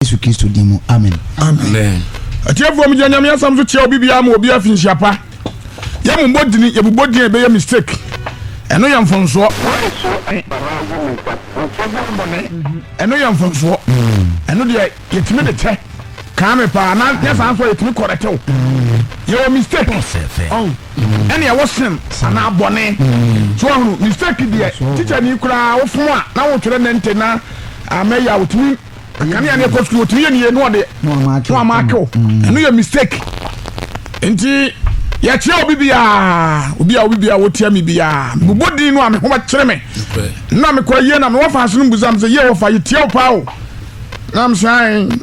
Yesu Kristo din mu, amen. Amen. Atiefoɔ mu gyina Nyame asɛm so kyerɛ obi biara ma obi afi nhyia pa. Yɛ mo bɔ dini, yɛ bubɔ dini a ɛbɛyɛ mistake. Ɛno yɛ mfomsoɔ. Ɛno yɛ mfomsoɔ. Ɛno deɛ yɛtumi de kyɛ. Kaa me paa na nyɛ saa nso a yɛtumi kɔrɛtɛw. Yɛwɔ mistake. Ɛne ɛwɔ sin anaa bɔne. So ahunu mistake deɛ teacher ni koraa wofom a na wotwerɛ nɛnte na amɛyɛ a wotumi kanea ne ɛkɔ sukuu otumi yɛ nie no ɔde no ama akew mm. ɛno yɛ mistake nti yɛkyerɛ obi biara obi a obi biara wɔtia me biara mebɔ din no a me ho bɛkyerɛ me na mekɔ yie na mewɔ fa ase no mbusam sɛ yie wɔfa yɛtia wo paa o na m sɛ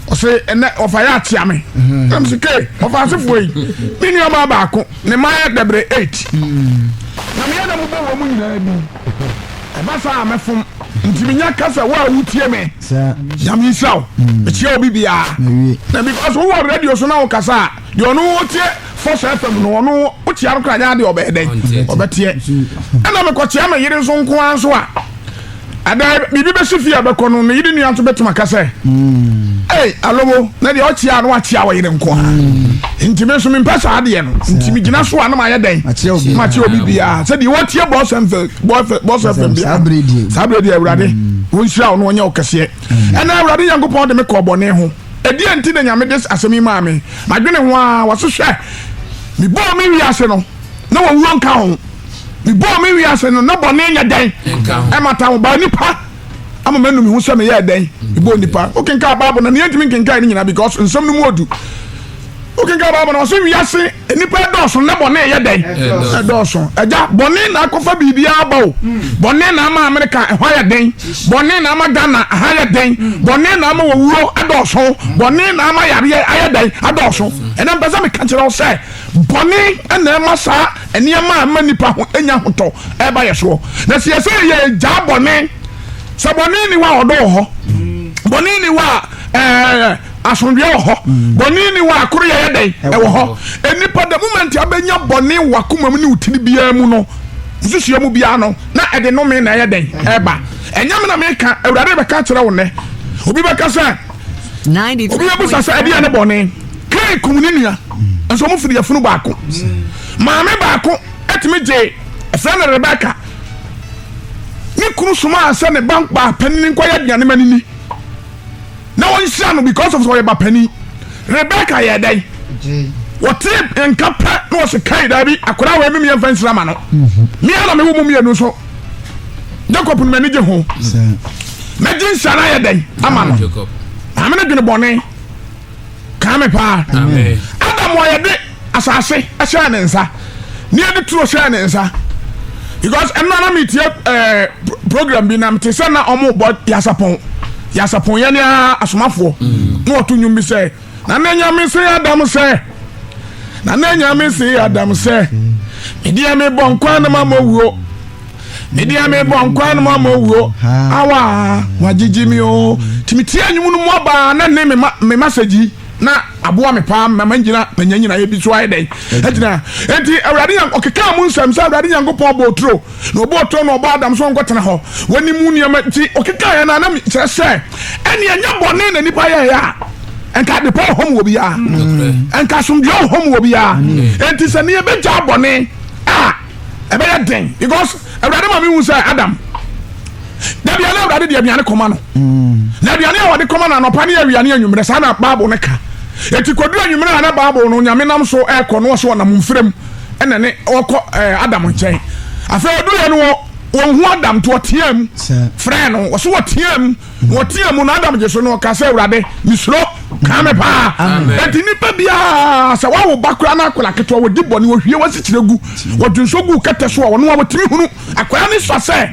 ɔsɛ ɛnɛ ɔfa yɛ akyea me mm. na m sɛ ke ɔfa asefoɔ yi me nuabaa baako ne ma yɛ dɛbrɛ 8 mm. na meyɛ na mobɔ wɔ mu nyinaa bi Ɛba saa a mɛfom. Nti menya ka sɛ wo a wotie me. Nyame nhyira wo. Mekyia obi biara. Na because wowɔ radio so na wokasa a, deɛ ɔno ɔtie Force FM no ɔno wokyia no koraa nyɛ adeɛ ɔbɛyɛ dɛn? Ɔbɛteɛ. Ɛna mekɔkyia me yere nso nko ara nso a, ɛdɛ biribi bɛsi fie a ɛbɛkɔ no, ne yere nua nso bɛtumi aka sɛ, Ei, Alobo, na deɛ ɔkyia a na wakyia wo yere nko ara. Nti me nso mempɛ saa adeɛ no nti megyina so a na mayɛ dɛn makyerɛ obi biara sɛ deɛ wɔtie bɔsfm bia saa berɛ deɛ awurade wɔnhyira wo na ɔnyɛ wo kɛseɛ ɛna awurade nyankopɔn de me kɔɔ bɔne ho ɛdeɛ nti na nyame de asɛm yi maa me madwene ho a wɔse hwɛ mebɔɔ me wiase no na wɔwuo nka ho mebɔɔ me wiase no na bɔne nyɛ dɛn ɛmata ho baa nipa ama manu me ho sɛ meyɛɛ dɛn mebɔɔ nnipa wokenkaa bible na neɛntumi nkenkae no nyina because nsɛm no mu ɔdu wokenkaa bible na ɔsɛ wiase nnipa ɛdɔɔso na bɔne ɛyɛ dɛn ɛdɔɔso agya bɔne na akɔfa biribiaa ba o bɔne na ama amerika ɛhɔ ayɛ dɛn bɔne na ama ghana ɛha ayɛ dɛn bɔne na ama wɔwuo ɛdɔɔso bɔne na ama yareɛ ayɛ dɛn ɛdɔɔso ɛnɛ mpɛ sɛ meka kyerɛ wo sɛ bɔne ɛna ɛma saa Nneɛma a ɛma nnipa ho nya ahotɔ reba yɛn soɔ. Na sɛ yɛsɛ yɛgyaa bɔne, sɛ bɔne ni hɔ a ɔdɔ wɔ hɔ, bɔne ni hɔ a asomdwoeɛ wɔ hɔ, bɔne ni hɔ a koro yɛyɛ dɛn ɛwɔ hɔ. Nnipa da moment a bɛnya bɔne wɔ akoma mu ne wo tiri biara mu no, nsusua mu biara no, na ɛde nome na ɛyɛ dɛn ɛba. Ɛnyɛ me na meka, Awurade bɛka kyerɛ wo nnɛ. Obi bɛka sɛ. obi abusa sɛ ɛdeɛ ne bɔne kain kum ne nua nso ɔmo firi afunu baako maame baako ɛtumi gye ɛfrɛ no rebeka ne kunu somaa sɛ ne ba ba panini nkɔyɛ aduane ma nini na wɔnhyira no because of sɛ ɔyɛ ba panini rebeka yɛ dɛn wɔte nka pɛ na wɔse kain daabi akora wɔ ɛmemiɛ mfa nsira ma no meɛ na mewo mu mmienu nso jacob no m'ani gye ho mɛgye nsa no ayɛ dɛn ama no maame no dwene bɔne kaa me paa adam a yɛde asase hyɛɛ ne nsa ne yɛde turo hyɛɛ ne nsa because ɛno na metie eh, program bi nam te sɛ na ɔmobɔ yasapɔn yasapɔn yɛ ne asomafoɔ mm. na ɔto nnwom bi sɛ na na nyame se adam sɛ na na nyame se adam sɛ medeɛ mebɔ nkwa no ma mɔwuo medeɛ mebɔ nkwa no ma mɔwuo awa wagyegye me o nti metie anwom no mu abaa na ne me masagyi na aboa me paa mama nyina manya nyinaeɛ bi so ayɛ dɛn agyina enti awurade nyank ɔkekaa mu nsɛm sɛ awurade nyankopɔn bɔɔ turo Na ɔbɔɔ turo na ɔbɔɔ Adam sɛ ɔnkɔtena hɔ. Wɔnim mu nneɛma nti ɔkekaeɛ no a, na kyerɛ sɛ ɛnneɛ ɛnyɛ bɔne na nnipa yɛeɛ a, ɛnka adepa wɔ hɔ ma obiara, ɛnka asomdwoeɛ wɔ hɔ ma obiara. Enti sɛ nnɛ yɛbɛgyaa bɔne a, ɛbɛyɛ den because Awurade ma mehu sɛ Adam, da biara na Awurade de aduane kɔma no. Na aduane a wɔde kɔma no anɔpa ne awia ne anwummerɛ, saa na Bible no ka. Enti kɔduru anwummerɛ a na Bible no Nyame nam so rekɔ no ɔsɛ ɔnam mfirem. ɛna ne ɔkɔ ɛɛ adam nkyɛn afei ɔduru yɛ no wɔ wɔn hu adam to ɔteɛ mu frɛ no wɔso ɔteɛ mu na ɔteɛ mu na adam gye so no ɔka sɛ awurade mesuro kaa me paa ɛnti nipa biara sɛ wawo ba koraa na akwadaa ketewa wɔdi bɔ ne wɔhwie wɔasikyerɛ gu wɔdwonso gu kɛtɛ so a ɔno a wɔtumi hunu akwadaa ne sɔ sɛ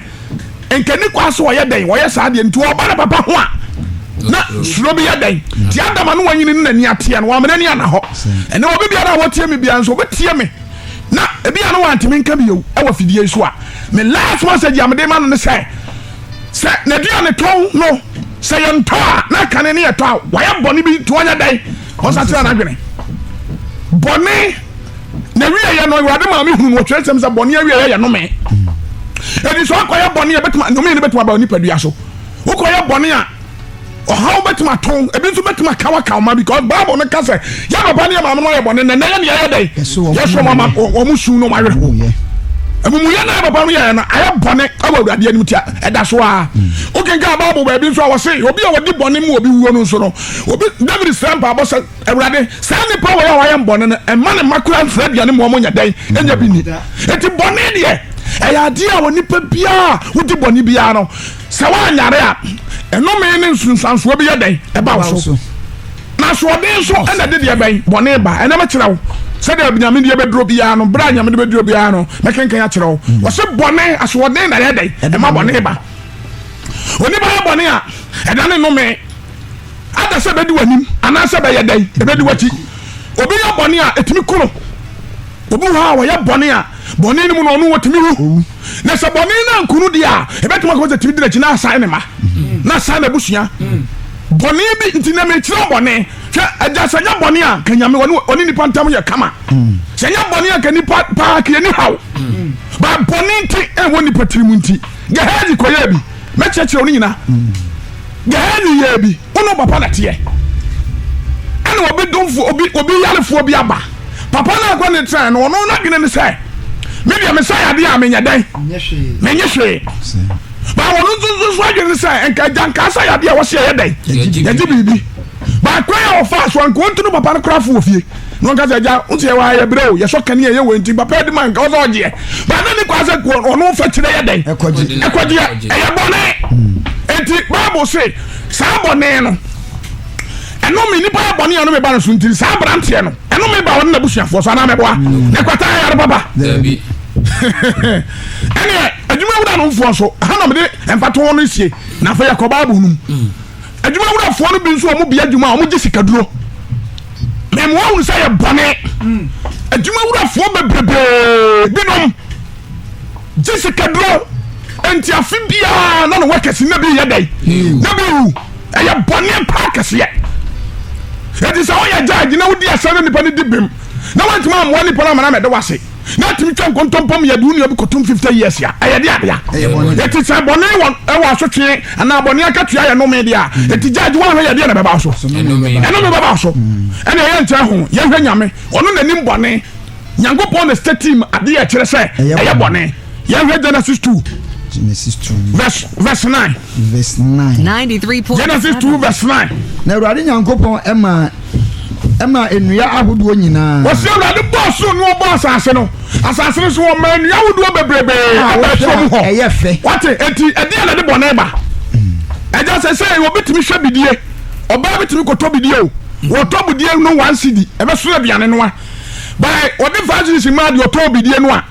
nka ne kwan so ɔyɛ dɛn wɔyɛ saa deɛ nti ɔba ne papa ho a na suro bi yɛ dɛn nti adam ano wanyini ne n'ani ateɛ no wamena ni ana hɔ ɛnɛ obi biara a wɔtie me biara nso wɔbɛtie me na ebi a no wantumi nka bi yɛwu ɛwɔ fidie so a me last message a mede ma no ne sɛ sɛ n'aduane tɔn no sɛ yɛntɔ a na kane ne yɛtɔ a wayɛ bɔne bi nti wɔnyɛ dɛn wɔnsakyerɛ no adwene bɔne na wieɛ no awurade maa mehunu no ɔtwerɛ nsɛm sɛ bɔne awieɛ yɛ nome ɛdi sɛ ɔkɔyɛ bɔne a bɛtumi nome no bɛtumi aba onipadua so wokɔyɛ bɔne a ɔhaw bɛtumi ato ebi nso bɛtumi aka waka ɔma because bible no ka sɛ yɛ papa ne yɛ maame no ayɛ bɔne nɛnɛ yɛ ne yɛyɛ dɛn yɛsɔ mo ama wɔn su no wɔayɛ ho amumuyɛ na papa no yɛyɛ no ayɛ bɔne ɛwɔ awurade anim tia ɛda so a wokenka bible baabi nso a wɔse obi a wɔdi bɔne mu obi wuo no nso no obi david srɛ mpaabɔ sɛ Awurade, saa nnipa wei a wɔayɛ me bɔne no, mma ne mma koraa mfiri aduane mu, wɔnyɛ dɛn? Ɛnyɛ bi nni. Enti bɔne deɛ, ɛyɛ adeɛ a onipa biara a wodi bɔne biara no, sɛ woanyare a, nnome ne nsunsuansoɔ bi yɛ dɛn? Ɛba wo so. Na asoɔden nso na ɛde deɛ bɛn? Bɔne ba. Ɛnnɛ mɛkyerɛ wo sɛdeɛ Nyame deɛ bɛduro biara no, berɛ a Nyame de bɛduro biara no, mɛkenkan akyerɛ wo. Mm. Wɔse bɔne, asoɔden na ɛyɛ dɛn? Ɛma bɔne ba. Onipa yɛ bɔne a, ɛda ne nnome. Anaasɛ ɛbɛdi w'anim. Anaasɛ ɛbɛyɛ dɛn? Ɛbɛdi w'akyi. Obi yɛ bɔne a, ɛtumi ku no. Obi wɔ hɔ a, ɔyɛ bɔne a, bɔne no mu no, ɔno ɔtumi wu. Na sɛ bɔne no anku no deɛ a, ɛbɛtumi akɔma sɛ ɛtumi di n'akyi na asan ne mma, na asan n'abusua. Bɔne bi nti na mekyerɛ bɔne. Hwɛ, agya, sɛ nyɛ bɔne a, ka Nyame, ɔne, ɔne nipa ntam yɛ kama. Sɛ nyɛ bɔne a, ka nipa paa, ka yɛni haw. Ba bɔne nti, ɛwɔ nipa tirim nti, Gehazi kɔyɛɛ bi. Mɛkyerɛkyerɛ wo ne nyina. Gɛhɛɛne yɛɛ bi, wo ne wo papa na teɛ. Ɛna obi domfoɔ, obi, obi yarefoɔ bi aba. Papa no akɔ ne tena no, ɔno n'adwene ne sɛ, me deɛ mesa yadeɛ a menyɛ dɛn? Menyɛ hwee. Ba ɔno nso nso nso adwene ne sɛ, nka agya nka sa yadeɛ a wɔhyɛ yɛ dɛn? Yɛgye biribi. Ba kwan a ɔfaa so a nka ɔntu no papa no koraa fo wɔ fie. na ɔnka sɛ agya wo sɛ yɛwɔ ha yɛbrɛ o yɛsɔ kanea yɛ wɔ nti papa adi ma nka ɔsɛ ɔgyeɛ ba na ne kwaa sɛ kuo ɔno mfa kyerɛ yɛ dɛn ɛkɔgyeɛ ɛyɛ bɔne nti hmm. bible se saa bɔne no ɛnome nipa yɛ bɔne ɛnome ba no so nti saa aberanteɛ no ɛnome ba ɔne n'abusuafoɔ so anaa mɛboa hmm. na ɛkwata ayare papa ɛneɛ adwuma wura no mfoɔ so ha na mede mfatoɔ no sie na afei yɛkɔ bible no mu hmm. adwuma wurafoɔ no bi nso wɔn bea adwuma a wɔn gye sikaduro mɛmu ahunu sɛ yɛ bɔne hmm. adwuma wurafoɔ bebrebee binom gye sikaduro nti afe biara na ne wɔkɛse na bi yɛ dɛn hmm. na bi wu ɛyɛ bɔne paa kɛseɛ ɛti sɛ woyɛ gya agyina wodi asɛm no nipa no di bem na woantumi ammoa nipa no amana mɛde wase na atumi twa nkontompo mu yɛde wo nua bi kɔtom 50 years a ɛyɛ de adea ɛti sɛ bɔne wɔ asotwe anaa bɔne akatua yɛ nome deɛ a ɛti gya agye woahwɛ yɛdeɛ na bɛba so ɛnome bɛba so ɛne ɛyɛ nkyɛ ho yɛhwɛ nyame ɔno nanim bɔne nyankopɔn na statim adeɛ ɛkyerɛ sɛ ɛyɛ bɔne yɛhwɛ genesis 2 genesis 2 verse, verse 9 verse 9 93 genesis 2 verse 9 na awurade nyankopɔn ɛma ɛma nnua ahodoɔ nyinaa wɔsi awurade bɔɔ so na ɔbɔ asase no asase no so wɔma nnua ahodoɔ bebrebe ɛbɛ ɛsoro mu hɔ ɛyɛ fɛ wɔte eti ɛdi ɛna de bɔ ne ba ɛgya sɛ sɛ obi tumi hwɛ bidie ɔbaa bi tumi kɔtɔ bidie o wɔtɔ bidie no one cd ɛbɛ so aduane no a bɛɛ wɔde five cd si maa deɛ ɔtɔ bidie no a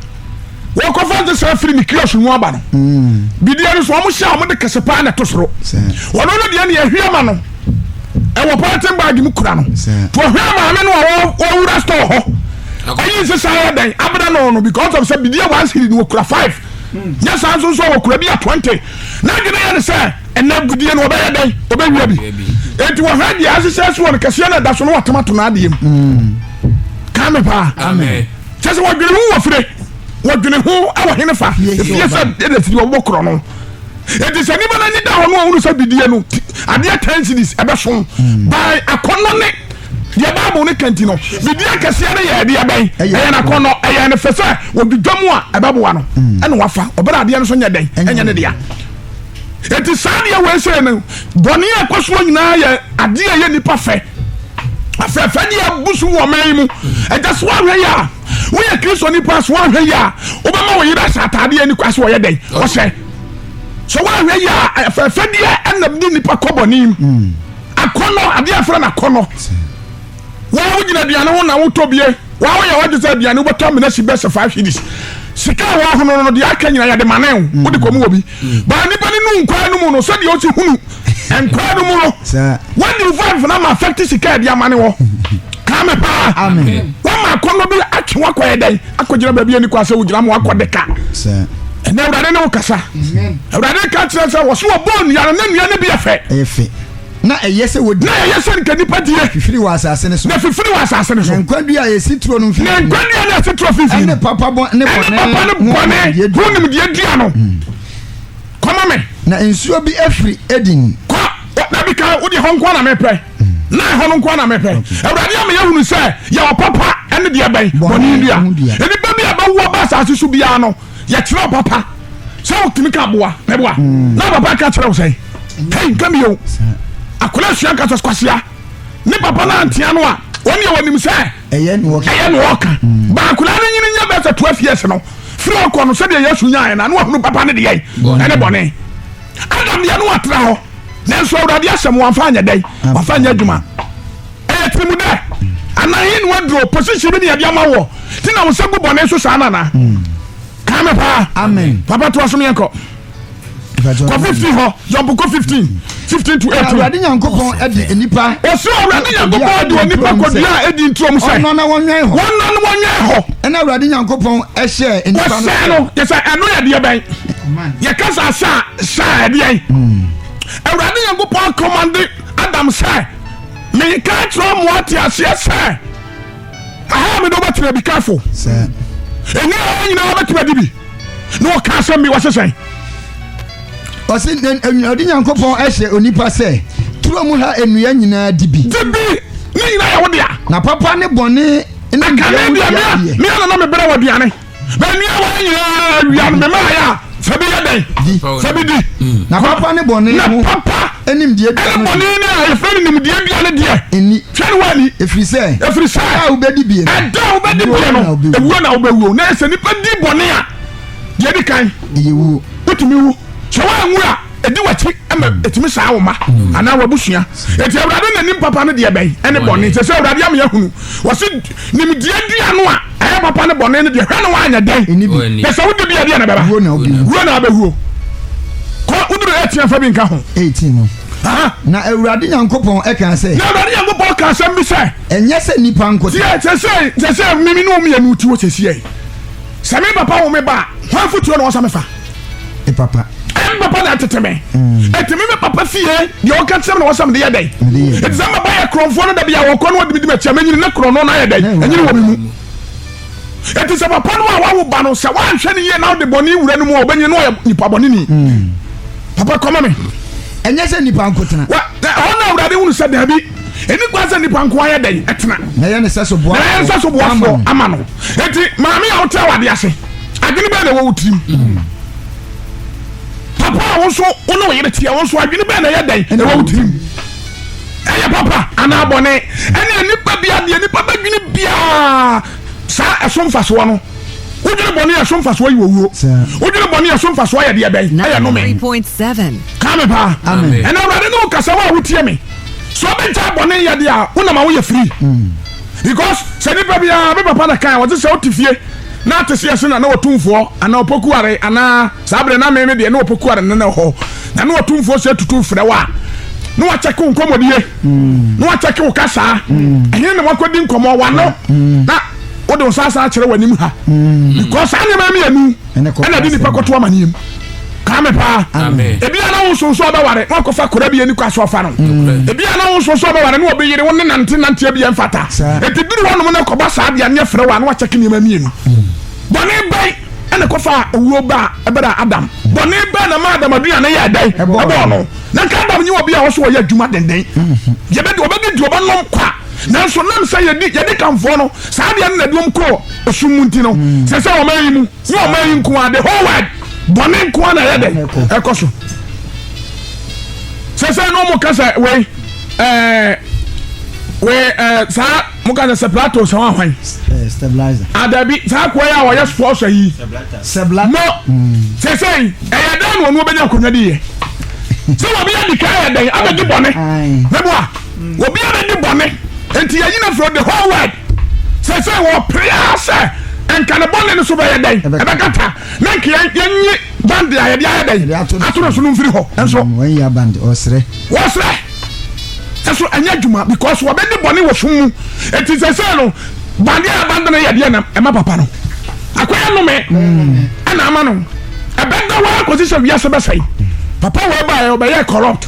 wɔkɔfa nsesa firi ne kiosk mu aba no mm. bideɛ no so wɔn hyɛ a wɔde kɛse paa na ɛto soro wɔn no deɛ ne ɛhwɛ ma no ɛwɔ pɔlɛtin baagi mu kura no to ɛhwɛ maame no a wɔwura store hɔ ɛyi nsesa yɛ dɛn abena no no because of sɛ bideɛ one series no wɔkura five mm. nyɛ saa nso nso wɔkura bi a twenty na adwene yɛ ne sɛ ɛnɛ bideɛ no wɔbɛyɛ dɛn wɔbɛwia bi eti wɔhwɛ deɛ asesɛ so wɔn kɛseɛ na ɛda so no wɔatoma to no adeɛ mu mm. kame paa. Amen. kyɛ sɛ wɔdwene ho wɔ fire wɔdwene ho wɔ hene fa fie sɛ ɛna firi wɔbɔ korɔ no ɛti sɛ nnipa no anyi da hɔ no a wonu sɛ bidie no adeɛ ten cities ɛbɛso hmm. by akɔnnɔ ne deɛ bible no ka nti no biribi akɛseɛ no yɛ ɛdeɛ bɛn ɛyɛ no akɔnnɔ ɛyɛ no fɛ sɛ wɔdwidwa mu a ɛbɛboa no hmm. ɛne wafa ɔbɛrɛ adeɛ no so nyɛ dɛn ɛnyɛ ne dea Enti saa deɛ wei sɛ no bɔne a ɛkɔ soɔ nyinaa yɛ adeɛ a ɛyɛ nnipa fɛ afɛfɛ deɛ abu so wɔ ɔman yi mu ɛgya so ahwɛ yɛ a woyɛ kristo nipa so ahwɛ yɛ a wobɛma wo yere ahyɛ ataadeɛ ani kwa so ɔyɛ dɛn ɔhyɛ so woahwɛ yɛ a afɛfɛ deɛ ɛna de nnipa kɔ bɔne mu akɔnɔ adeɛ afrɛ no akɔnɔ Waa wo gyina aduane ho na wotɔ bie. Waa wo yɛ wadwe sɛ aduane wobɛtɔ amena si bɛsɛ five hidis. Sika a wahono no no deɛ aka nyina yɛde mane wo. Mm. Wode kɔm wɔ bi. Mm. Baa nipa ne nu nkwaa no mu no sɛdeɛ ɔsi hunu nkwaa no mu no. Wadi wo five na ma affect sika ɛde amane wɔ. Kame paa. Amen. Wama akɔnɔ bi atwe wakɔ yɛ dɛn akɔgyina baabi ani kɔ asɛ wogyina ma wakɔ deka. Ɛnɛ awurade ne wo kasa. Awurade ka kyerɛ sɛ wɔso wɔbɔɔ nnua no na nnua no bi yɛ fɛ. Na ɛyɛ sɛ wɔdi. Na ɛyɛ sɛ nka nnipa die. Fifiri wɔ asase no so. Na fifiri wɔ asase no so. Na nkwa dua a ɛsi turo no mfimfini. Na nkwa dua no a ɛsi turo mfimfini. Ɛne papa bɔ ne bɔne. Ɛne papa ne bɔne ho nimdeɛ dua no. Hmm. Kɔma me. Na nsuo bi afiri Eden. Kɔ na bi ka wo deɛ hɔ nkoa na mepɛ. Hmm. Na ɛhɔ no nkoa na mepɛ. Awurade ama yɛhunu sɛ yɛwɔ papa ɛne deɛ bɛn bɔne dua. Nnipa bi a bɛwoɔ ba asase so biara no. yɛkyerɛ papa sɛ wotumi ka boa bɛboa hmm. na papa ka kyerɛ wo sɛ kai nka mi o akwadaa sua nka sɛ kwasia ne papa no antea no a wɔn yɛ wɔnim sɛ ɛyɛ ne wɔka hmm. baakwadaa no nyini nyɛ bɛsɛ toa fie ase no firi ɔkɔ no sɛdeɛ yɛsu nyaɛ na ne wahunu papa no deɛ ɛne bɔne adam deɛ no watena hɔ nanso awurade asɛm wamfa anyɛ dɛn wamfa anyɛ adwuma ɛyɛ tiri mu dɛ anaa yi ni waduro position bi ni ɛdi ama wɔ ti na wosan gu bɔnɛ so saa nana kaa mi paa amen papa to asom yɛn kɔ kɔ fifteen hɔ jɔnpu kɔ fifteen fifteen to eighteen. awurade nyankopɔn ɛdi nipa. ɔsɛ awurade nyankopɔn ɛdi onipa kɔdua a ɛdi nturom sɛ. ɔnɔ na wɔnyɛn hɔ. wɔnɔ na wɔnyɛn hɔ. ɛna awurade nyankopɔn ɛhyɛ nipa no. wɔsɛ no yɛ sɛ ɛno yɛ deɛ bɛn yɛ kasa sa sa ɛdeɛ awurade nyankopɔn akɔmande adam sɛ. Meka akyerɛ ɔmo ate aseɛ sɛ aha mede wobɛtena be careful ɛnyɛ ha nyinaa wobɛtumi adi bi na wɔka asɛm bi wɔse sɛn ɔse ɔde nyankopɔn ahyɛ onipa sɛ turo mu ha nnua nyinaa di bi di bi ne nyinaa yɛ wo dea na papa ne bɔne ne deɛ wo deɛ deɛ meɛ na na mebrɛ wɔ aduane na nua wa nyinaa wia no mema ayɛ a sɛ bi yɛ dɛn sɛ bi di mm. na papa ne bɔne na papa ɛne bɔne no a yɛfrɛ no nimdeɛ dua no deɛ ɛni twɛ no wani ɛfiri sɛ ɛfiri sɛ ɛda a wobɛdi bie no ɛda a wobɛdi bie no ɛwuo na wobɛwuo na sɛ nipa di bɔne a deɛ di kan ɛyɛ wuo wotumi wu sɛ woanwu a ɛdi wakyi ma ɛtumi saa wo ma mm. anaa wabusua ɛti awurade na nim papa no deɛ bɛn ɛne bɔne sɛ sɛ awurade ama yɛahunu wɔse nimdeɛ dua no a Ɛyɛ papa ne bɔne no deɛ hwɛ no woanyɛ dɛn pɛ sɛ wode bia deɛ na bɛba wuo na abɛwuo kɔ woduru ɛtia mfa bi nka ho 18 no na awurade nyankopɔn ɛka sɛ na awurade nyankopɔn ka asɛm bi sɛ ɛnyɛ sɛ nnipa nko sɛ sɛsɛ sɛsɛ mimi ne ɔmyɛ no ti wɔ sɛsiɛ sɛ me papa wo me ba hwan fotuo na wɔsa mefa e papa ɛyɛ me papa na ɛtete me ɛtumi mm. me papa fie deɛ wɔka kyerɛ me na wɔsɛ mede yɛ dɛn ɛti sɛ mɛba yɛ korɔmfoɔ no da bi a wɔkɔ no wɔdemedi makyia mɛnyini ne korɔ no na ayɛ dɛn ɛnyini wɔ me mu ɛti sɛ papa no a wawo ba no sɛ woanhwɛ no yie na wode bɔne wura no mu a wɔbɛnyini na ɔyɛ nipa bɔne ni mm. papa kɔma me ɛnyɛ sɛ nipa nkotena ɛhɔ na awurade hunu sɛ daabi ɛni kwan sɛ nipa nko ayɛ dɛn ɛtena na yɛ ne sɛ so boafoɔ ama no ɛti maame a wotrɛ wade ase adwene bɛɛ na ɛwɔ wo tirim papa a wo nso wo ne wo yere teɛ wo nso adwene bɛɛ na ɛyɛ dɛn ɛwɔ wo tirim ɛyɛ papa anaa bɔne ɛne nipa bia deɛ nipa bɛdwene biaa saa ɛso mfasoɔ no wodwene bɔne a ɛso mfasoɔ yɛ owuo wodwene bɔne a ɛso mfasoɔ yɛ deɛ bɛn ɛyɛ nome ka me paa ɛna awurade ne wo kasa wo a wotie me sɛ wobɛgya bɔne yɛdeɛ a wonama woyɛ firi mm. Because sɛ nipa biara me papa na kan ɔse sɛ ɔte fie na ate seɛ se na na ɔtumfoɔ anaa ɔpokuware anaa saa berɛ na me me deɛ na ɔpokuware no na ɛhɔ na na ɔtumfoɔ se tutu frɛ wo a na wakyɛke wo nkɔmmɔdie na wakyɛke wo kasaa ɛhe na wakɔdi nkɔmmɔ wano na wode wo nsa asan akyerɛ w'anim ha because saa nneɛma mmienu ɛna de nipa kɔto amaneɛ mu kaa me paa ebi a na wo nso nso ɔbɛware na ɔkɔfa kora bi ani kɔ aso afa no mm. ebi a na wo nso nso ɔbɛware na ɔbɛyere wo ne nante nante ebi yɛn fata eti duru hɔ nom na kɔba saa deɛ ne fere wa na wakyɛ ke nneɛma mmienu mm. bɔne bɛn ɛna kɔfa owuo ba ɛbɛrɛ adam bɔne bɛn na ma adam aduane yɛ ɛdɛn ɛbɔɔ no na nka adam nye wɔ bi a wɔso wɔyɛ adwuma denden mm-hmm. yɛbɛdi ɔbɛdi di ɔbɛnom kwa Nanso nam sɛ yɛdi yɛdi Kamfoɔ no saa adeɛ no na ɛde wɔn kɔɔ esum mu nti no, sɛ sɛ ɔman yi mu ne ɔman yi nko ara the whole world bɔne nko ara na ɛyɛ dɛ ɛkɔ so. Sɛ sɛ na wɔn ka sɛ wei ɛɛ wei ɛɛ saa mo ka sɛ separato sɛ wɔn ahwan. Stabilizer. Adabi ah, saa kɔɛ yɛ a wɔyɛ sports ayi. Sebla. Mo sɛ sɛ ɛyɛ dɛ na wɔn bɛnya akonnwa di yɛ. Sɛ wɔn bɛyɛ di kan yɛ dɛ abɛgye bɔne. Mɛboa. Obiara nni bɔne, enti yɛayi no afiri hɔ. The whole world seesei wɔpere ara sɛ nka ne bɔne no so bɛyɛ dɛn? Ɛbɛkata. Na nka yɛnyi bande a yɛde ayɛ dɛn? Ato no so no mfiri hɔ. Nso. Mm, wɔanya bande. Ɔresrɛ. Wɔresrɛ. Nso ɛnyɛ adwuma because wɔbɛdi bɔne wɔ sum mu. Enti seesei no, bande a yɛabande no yɛ deɛ na ɛma papa no akɔyɛ nnome ɛna ama no ɛbɛda hɔ ara kɔsi sɛ wiase bɛsɛe. Papa wei baeɛ, ɔbɛyɛɛ corrupt.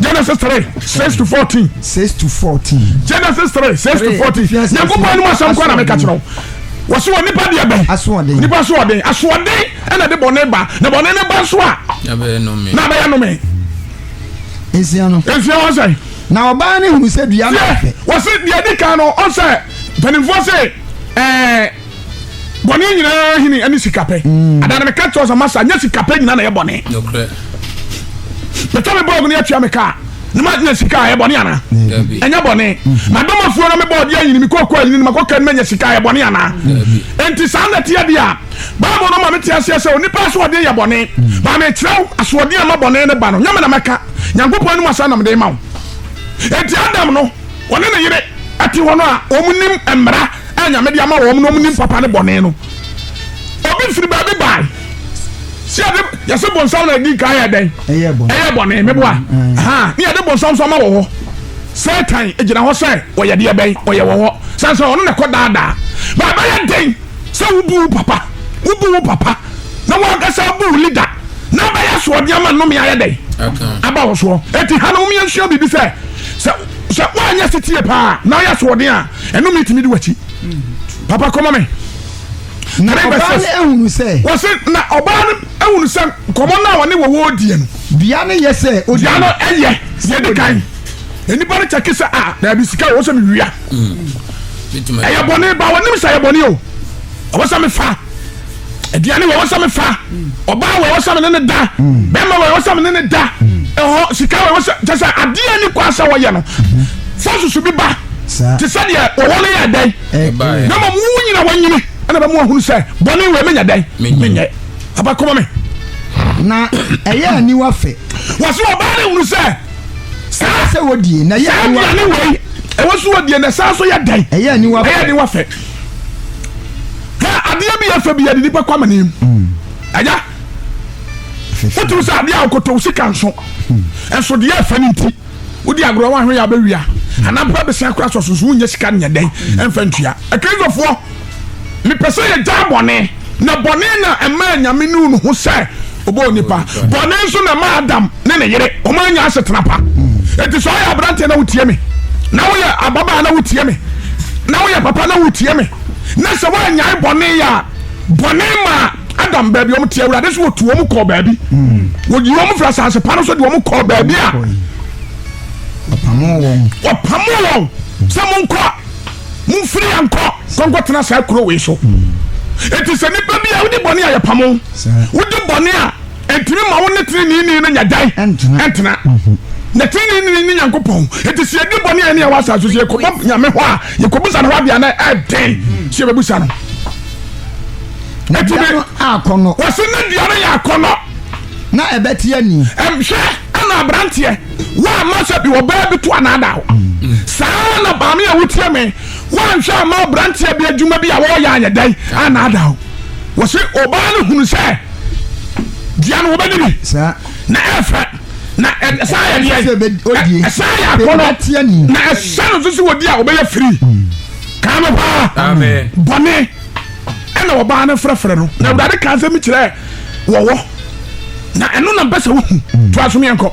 Genesis three six to fourteen. six to fourteen. Genesis three six to fourteen. Nyankopɔn anum asɛm kɔ na meka kyerɛ wo. Wɔsi wɔ nipa deɛ bɛn. Asoɔden. Nipa asoɔden asoɔden ɛna de bɔnne ba na bɔnne ne ba nso a. Na bɛyɛ nome. Na bɛyɛ nome. Nsia no. Nsia wɔn sɛ. Na ɔbaa ne hunu sɛ dua no afɛ. Wɔsi deɛ di kan no ɔsɛ mpanimfoɔ sɛ ɛɛ. Bɔne nyinaa hene ɛne sikapɛ. Mm. Ada no meka kyerɛ sɛ masa nyɛ sikapɛ nyinaa na ɛyɛ bɔne. Nokorɛ. Meta me bɔɔg no atua me kaa na manya sika a ɛyɛ bɔne anaa? Ɛnyɛ bɔne. Mm-hmm. Madɔm afuo na me bɔɔg deɛ ayini me kɔkɔ ayini no makɔ kaa no manya sika a ɛyɛ bɔne anaa? Enti saa na ɛteɛ deɛ a Bible no ma mete aseɛ sɛ onipa asoɔden yɛ bɔne. Mm. Baa mekyerɛ wo asoɔden a ma bɔne no ba no nyɛ me na mɛka Nyankopɔn anim asa na mede ma wo. Enti Adam no wɔne ne yere te hɔ no a, wɔnim mmara a Nyame de ama wɔn no, wɔnim papa ne bɔne no. Obi firi baabi bae, sɛ yɛde yɛsɛ bonsam na ɛdi kan yɛ dɛn? Ɛyɛ bɔne. Ɛyɛ bɔne, meboa. Mm, mm. Ha, ne yɛde bonsam nso ama wɔ hɔ. Satan gyina hɔ sɛ ɔyɛ deɛ bɛn, ɔyɛ wɔ hɔ. Sɛ sɛ ɔno na ɛkɔ daadaa. Na ɛbɛyɛ den sɛ wobu wo papa, wobu wo papa, na wankasa bu wo leader, na abɛyɛ soɔdeɛ ama nnome ayɛ dɛn? Aba wo soɔ. Eti ha no, wɔn yɛn sua biribi sɛ, sɛ sɛ woanyɛ setie paa na woyɛ soɔden a ɛno metumi de wakyi papa kɔma me na ɔbaa no ehunu sɛ wɔsi na ɔbaa no ehunu sɛ nkɔmɔ no a wɔne wɔwɔ die no dua no yɛ sɛ dua no ɛyɛ sɛ de kan nipa no kyɛke sɛ a daabi sika wɔ sɛ mewia ɛyɛ bɔne ba wɔnim sɛ ɛyɛ bɔne o ɛwɔ sɛ mefa aduane wɔ ɛwɔ sɛ mefa ɔbaa wɔ ɛwɔ sɛ me ne ne da bɛrima wɔ ɛwɔ sɛ me ne ne da ɛhɔ sika wɔ ɛwɔ sɛ kyɛ sɛ adeɛ ni kɔ asɛ wɔyɛ no fɔ susu bi ba te sɛ deɛ wɔwɔ no yɛ dɛn na ma mu nyina wɔnyini ɛna bɛmu ahunu sɛ bɔne wɔ menya dɛn menyɛ abakoma me na ɛyɛ aniwa fɛ wɔse ɔbaa ne hunu sɛ saa sɛ wɔdie na yɛ aniwa ɛwɔ so wɔdie na saa so yɛ dɛn ɛyɛ aniwa fɛ hwɛ adeɛ bi ɛfɛ bi yɛde nipa kɔ amane mu mm. agya wotumi sɛ adeɛ a wokoto wo sika nso hmm. ɛnso deɛ ɛfɛ no nti wodi agorɔ wahwe yɛ abɛwia hmm. anampa bɛsɛn kora sɔso so wonyɛ sika nyɛ dɛn hmm. ɛmfa ntua akristofoɔ mepɛ sɛ yɛgya bɔne Na bɔne na ɛmaa Nyame nuu ne ho sɛ ɔbɔ onipa. Bɔne nso na ɛmaa Adam ne ne yere wɔn anya asetena pa. Eti sɛ ɔyɛ aberanteɛ na wotie me, na woyɛ ababaa na wotie me, na woyɛ papa na wotie me, na sɛ woanyae bɔne yɛ a, bɔne maa Adam baabi wɔn te awurade so wɔtu wɔn kɔɔ baabi. Wɔyi wɔn firi asase pa no so de wɔn kɔɔ baabi a wɔpamoo wɔn sɛ monkɔ. momfiri yɛ nkɔ kɔnkɔtena saa kuro wei so ɛti sɛ nipa bi a wode bɔne a yɛpamo wode bɔne a ɛntumi ma wo ne teneneni no nya dan ɛntena mhm. na teneneni ne nyankopɔn ɛti sɛ yɛde bɔne a ɛne ɛwɔ asase so yɛkɔbɔ nyame hɔ a yɛkɔbusa no hɔ adeɛ na ɛden mhm. sɛ yɛbɛbusa no ɛti ne wɔse ne dua no yɛ akɔnnɔ na ɛbɛteɛ ni ɛhwɛ ɛna aberanteɛ Woamma sɛ bi ɔbaa bi to anaadaa wo. Mm. Saa na maame a wotie me, woanhwɛ amma aberanteɛ bi adwuma bi a wɔreyɛ ayɛ dɛn anaadaa wo. Wɔ se ɔbaa no hunu sɛ dua no wobɛdi bi na ɛfɛ na ɛsa yɛ deɛ ɛsa yɛ akɔnɔ na ɛhyɛ no nso sɛ wɔdi a wɔbɛyɛ firi. Mm. Kaa no paa bɔne ɛna ɔbaa no frɛfrɛ no na awurade kaa sɛ mekyerɛ wɔwɔ na ɛno na mpɛ sɛ wohu to aso meɛnkɔ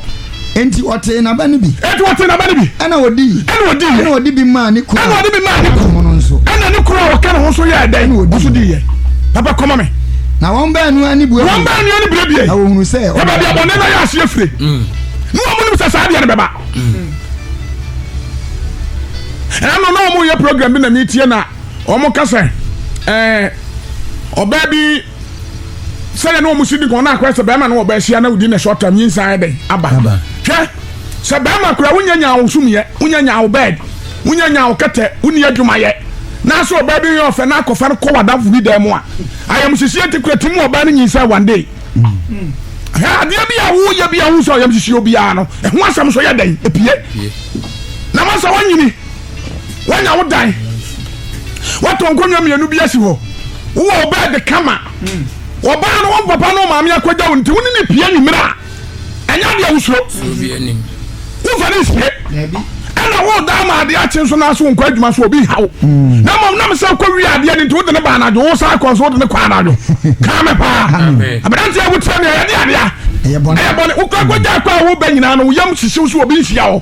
nti ɔtee naba no bi ɛti ɔtee naba no bi ɛna ɔdi ɛna ɔdi yɛ ɛna ɔdi bi maa ne kuro ɛna ɔdi bi maa ne kuro no nso ɛna ne kuro a ɔka ne ho so yɛ ɛdɛn ɛna ɔdi di yɛ papa kɔma me na wɔn bɛɛ nua ne bue wɔn bɛɛ nua ne bue bie na wɔn hunu sɛ ɔbɛ bi abɔne na yɛ aseɛ fire mm. ne wɔn mu nim sɛ saa deɛ no bɛba mm. ɛna no na wɔn yɛ program bi na mi tie na wɔn ka sɛ ɛɛ ɔbaa bi sɛdeɛ na wɔn si di kan na akora sɛ bɛrima na ɔbaa hyia na odi na short term nyinsa ayɛ dɛ aba hwɛ sɛ bɛrima kora wonya nya awosum yɛ wonya nya awo bɛɛd wonya nya awo kɛtɛ wonni adwuma yɛ n'asɛ ɔbaa bi yɛ ɔfɛ na akɔfa no kɔ wadafo bi dan mu a ayamsisi eti kura ti mu ɔbaa no nyinsa one day. Mm. hwɛ adeɛ bi a woyɛ bi a wo sɛ ɔyam sisi obiara no ɛho asɛm so yɛ dɛn ɛpie na ma sɛ wonyini woanya wo dan woatɔ nkonnwa mmienu bi asi hɔ wowɔ wo bɛɛ de kama ɔbaa no wɔn papa no maame akɔgya wo nti wo ne ne pie nwummerɛ a ɛnyɛ adeɛ wosuro wofa ne nsie ɛna woda ama adeɛ akye nso no ase wonkɔ adwuma so obi ha wo hmm. na mmom nam sɛ wokɔ wie adeɛ no nti wode ne ba anadwo wo saa kɔ so wode ne kɔ anadwo kaa me paa aberanteɛ wokyerɛ me ɛyɛde adeɛ a ɛyɛ bɔne wokɔ akɔgya kɔ a wobɛ nyinaa no woyam hyehyew so obi nhyia wo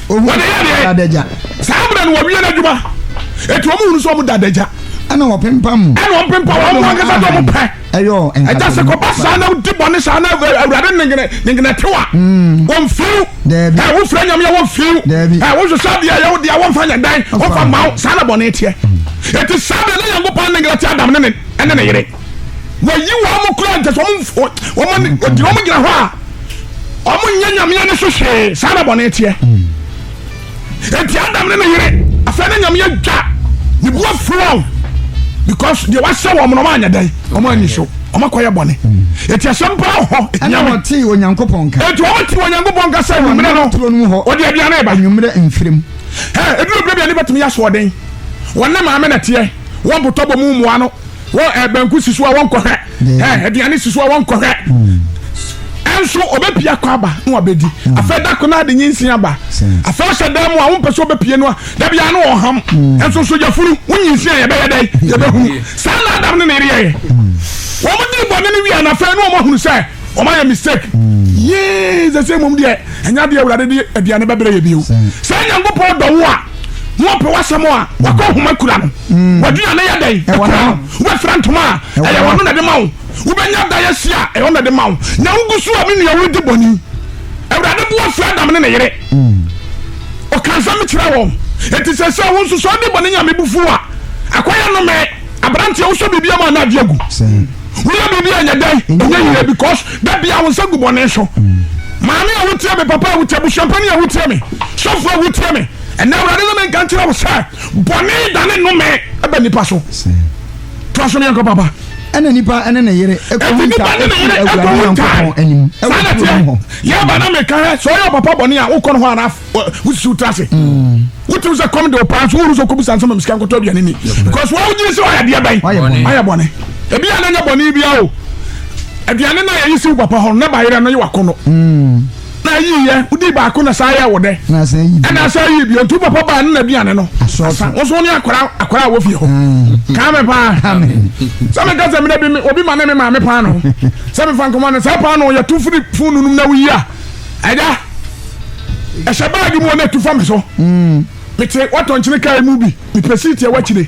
wɔde yɛ deɛ dadagya saa mmerɛ no wɔwie no adwuma ɛti wɔn hunu sɛ wɔn dadagya ɛna wɔn pempa mu ɛna wɔn pempa wɔn mu ankasa sɛ wɔn pɛ ɛyɔ nkasa ɛgya sɛ kɔba saa na di bɔ ne saa na awurade nengene nengene te wa hmm. wɔn fiw dɛbi ɛ wofura nyamia wɔn fiw dɛbi ɛ wososo adeɛ yɛ wodeɛ wɔn fa nyɛ dan wɔn fa ma saa na bɔ ne teɛ ɛti hmm. saa de ne yɛn ko paa nengene te adam ne ne ɛne ne yere. wɔyi wɔn kura nkyɛ sɛ wɔn wɔn wɔn gyina wɔn gyina hɔ a wɔn nyɛ nyameɛ ne so hwee saa na bɔne teɛ eti adam ne ne yere afɛn ne nyameɛ dwa ne bu afurɔn because deɛ wahyɛ wɔn na wɔn anyɛ dɛn wɔn anyi so wɔn akɔyɛ bɔne eti asɛm paa hɔ ɛna wɔn ti onyankopɔn nka eti wɔn ti onyankopɔn nka sɛ nwumire no wɔde aduane ba nwumire nfirim ɛ ebi obi bi a ne bɛtumi yɛ asoɔden wɔn ne maame na teɛ wɔn botɔ bɔ mu mua no. Wɔ eh, banku si so a wɔnkɔhwɛ, eh, aduane si so a wɔnkɔhwɛ. Ɛnso hmm. ɔbɛpie akɔ aba na wabɛdi. Hmm. Afei da ko no ade nyinsin aba. Afei ɔhyɛ dan mu a wompɛ sɛ ɔbɛpie no a da biara na ɔham. Ɛnso nso yɛfunu wo nyinsin a yɛbɛyɛ dɛn yɛbɛhunu. Saa na Adam ne ne yereɛyɛ. Wɔn dii bɔne no wia na afei na wɔahunu sɛ wɔn ayɛ mistake. Yee sɛ sɛ mmom deɛ ɛnya deɛ awurade de aduane bɛbrɛ yɛ bio. Sɛ Nyankopɔn dɔ wo a na ɔpɛ w'asɛm a wakɔ homa kura no. Mm. Wadwina ne yɛ dɛn? Ɛwɔ no. Wobɛfira ntoma a ɛyɛ wɔn na de ma wo. Wobɛnya dan asi a ɛyɛ wɔn na de ma wo. Na wogu so a me nua wodi bɔne. Awurade bo afu Adam ne ne yere. Mm. Ɔka nsɛm kyerɛ wɔn. Enti sɛ sɛ wo nso sɛ ɔde bɔne nya me bo fu a, akwa yɛ no me. Aberanteɛ wosɔ biribi ama na adi agu. Woyɛ biribi a ɛnyɛ dɛn? Ɛnyɛ yie because da bia wo nsa gu bɔne so. Mm. Maame a wotie me, papa a wotie, busuampani a wotie me, sɔfo a wotie me, ɛnna awurade ne me nka nkyerɛ wo sɛ Bɔne dane nnome ba nnipa so. Toa so ne yɛnkɔ papa. Ɛna nipa ne ne yere ɛkɔhu nta ɛfiri awurade nyankopɔn anim ɛwɔ turo mu hɔ. Yɛba na meka hɛ sɛ ɔyɛ ɔpapa bɔne a wokɔ no hɔ anaa wosisiw tra ase. Mm. Wotim sɛ kɔm de wo paa so woru sɛ kɔbisa nsɛm msika nkɔtɔ aduane ni. Because wɔn wogye sɛ ɔyɛ adeɛ bɛn ɔyɛ bɔne. Ebi a na nyɛ bɔne bia o. Aduane no a yɛyi siw papa hɔ no na bayerɛ no yɛ wakɔ no. Mm. Na ayi yɛ, wodii baako na saa yɛ wo dɛ. Ɛna asan ayi bio. Ɛna asan ayi bio. Nti wo papa baa ne na aduane no. Asan. Wo nso wo ne akwadaa akwadaa a wɔ fie hɔ. Kaa me paa. Sɛ me ka sɛ mmerɛ bi obi ma ne me maame paano. Sɛ me fa nkɔmɔ no saa paano yɛ tu firi fun nunum na woyi a. Ɛda. Ɛhyɛ baagi mu na ɛtu fa me so. Mm. Mete watɔ nkyene kaa mu bi. Mepɛ siiti ɛwɔ akyire.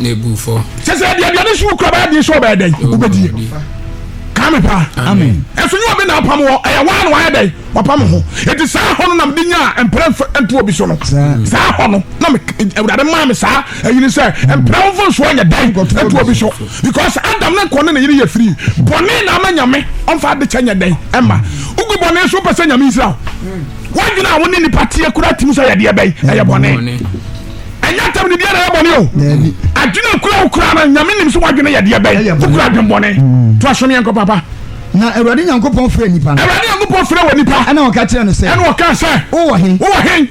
na ebu fɔ. sɛ sɛ ɛdi aduane so wukura bɛyɛ den so ɔbɛyɛ dɛn wobɛdie kaame paa ɛso nyɛ obi na apam wɔ ɛyɛ waa na wayɛ dɛn wapam ho ɛti saa hɔ no na mede nyaa mprɛ nto obi so no saa hɔ no na awurade maa me saa ayini sɛ mprɛ wo mfa nsoa nyɛ dɛn nto obi so because adam ne nkɔ ne ne yere yɛ firi bɔne na ama nyame ɔmfa ade kyɛ nyɛ dɛn ɛma wogu bɔne so wopɛ sɛ nyame nsira wo wadwene a wo ne nipa teɛ kora timi sɛ yɛdeɛ bɛn ɛyɛ bɔne ɛnyɛ atɛm ne biara yɛ bɔne o adwene akura wo koraa no nyame nim so woadwene yɛ deɛ bɛn wokura adwen bɔne mm. to asom yɛnkɔ papa na awurade nyankopɔn frɛ nipa no awurade nyankopɔn frɛ wɔ nipa ɛna ɔka kyerɛ no sɛ ɛna ɔka sɛ wowɔ he wowɔ he